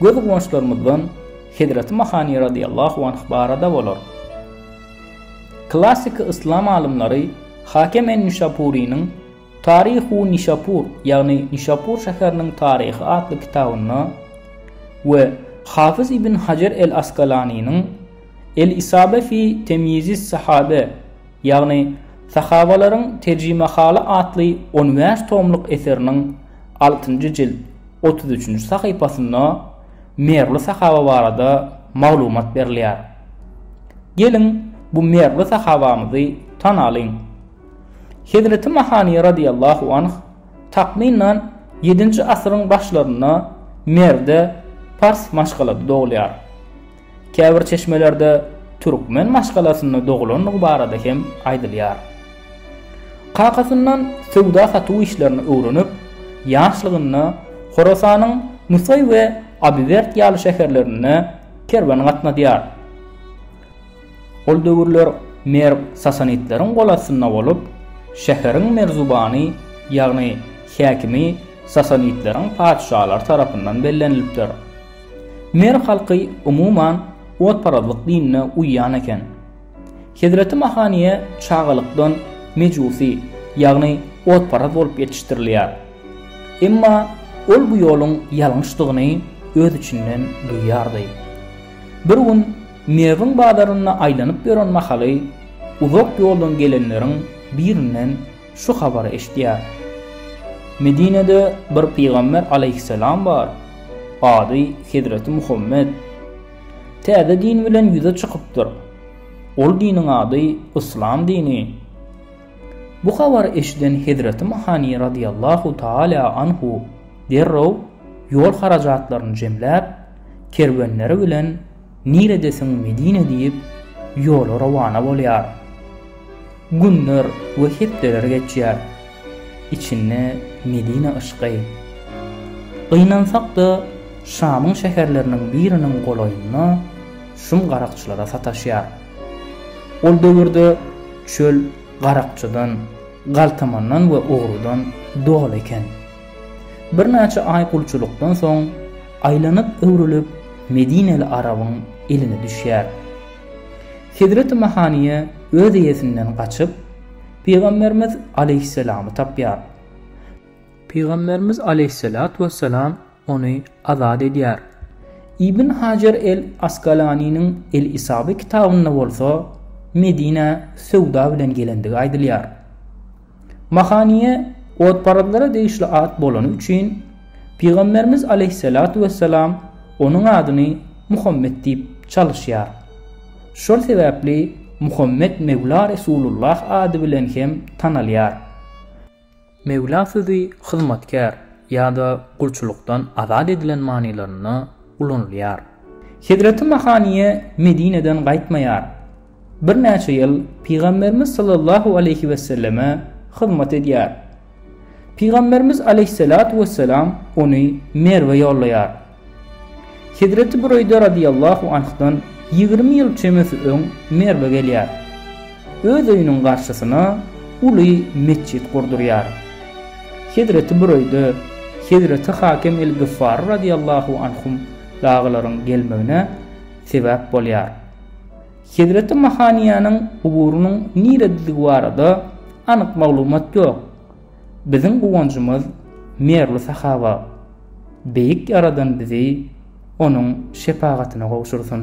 Gözguwançlarymyzdan Hezreti Mahani radiyallahu anh barada bolar. Klassyky yslam alymlary Hakem en-Nişapurynyň Tarihu Nişapur, ýagny Nişapur şäheriniň taryhy atly kitabynda we Hafyz ibn Hajar el-Askalanynyň El-Isabe fi temyizis-sahabe ýagny Sahabalaryň terjimehaly atly on bäş tomluk eseriniň altynjy jilt otuz üçünji sahypasynda Merwli sahaba barada maglumat berilýär. Geliň, bu merwli sahabamyzy tanalyň. Hezreti Mahaniýa radiýallahu anh, takmynan, ýedinji asyryň başlarynda Merwde pars maşgalada dogulýar. Käbir çeşmelerde türkmen maşgalasynda dogulandygy barada hem aýdylýar. Kakasyndan söwda-satuw işlerini öwrenip, ýaşlygynda Horasanyň Nusaý we Abiwerd ýaly şäherlerinde kerwen gatnadýar. Ol döwürler Merw sasanitleriň golastynda bolup, şäheriň merzubany, ýagny häkimi sasanitleriň patyşalary tarapyndan bellenilipdir. Merw halky umuman otparazlyk dinine uýýan eken. Hezreti Mahaniýe çagalykdan mejusi, ýagny otparaz bolup ýetişdirilýär. Emma ol bu ýoluň ýalňyşdygyny öz içinden duýýardy. Bir gün Merwiň bazarynda aýlanyp ýören mahaly uzak ýoldan gelenleriň birinden Şu habary eşidýär. Medinede bir pygamber alaýhyssalam bar, ady Hezreti Muhammet. Täze din bilen ýüze çykypdyr. Ol diniň ady Yslam dini. Bu habary eşiden Hezreti Mahani radiyallahu taala anhu derrew ýol harajatlaryny jemläp, kerwenleri bilen Niredesiň Medine diýip, ýola rowana bolýar. Günler we hepdeler geçýär. Içinde Medine yşky. Gynansak-da, Şamyň şäherleriniň biriniň golaýynda şum garakçylara sataşýar. Ol döwürde çöl garakçydan, galtamandan we ogrudan doly eken. Birnäçe aý gulçulykdan soň, aýlanyp-öwrülip medineli arabyň eline düşýär. Hezreti Mahaniýe öz eýesinden gaçyp, Pygamberimiz aleýhissalamy tapýar. Pygamberimiz aleýhissalatu wessalam ony azat edýär. Ibn Hajar el Asgalaniniň El Isabe kitabynda bolsa Medinä söwda bilen gelendigi aýdylýar. Mahaniýe otparazlara degişli at bolany üçin, Pygamberimiz aleýhissalatu wessalam onuň adyny Muhammet diýip çalyşýar. Şol sebäpli Muhammet Mewla Resulullah ady bilen hem tanalýar. Mewla sözi hyzmatkär ýa-da gulçulykdan azat edilen manylarynda ulanylýar. Hezreti Mahaniýe Medineden gaýtmaýar. Birnäçe ýyl Pygamberimiz sallallahu aleýhi weselleme hyzmat edýär. Pygamberimiz aleýhissalatu wessalam ony Merwe ýollaýar. Hezreti Bureýde radyýallahu anhdan ýigrimi ýyl çemesi öň Merwe gelýär. Öz öýüniň garşysyna uly metjit gurdurýar. Hezreti Bureýde, Hezreti Hakem el-Gyffary radyýallahu anhum dagylaryň gelmegine sebäp bolýar. Hezreti Mahaniýanyň guburynyň nirededigi barada anyk maglumat ýok. Biziň guwanjymyz Merwli sahaba. Beýik Ýaradan bizi Onuň şepagatyna gowşursyn.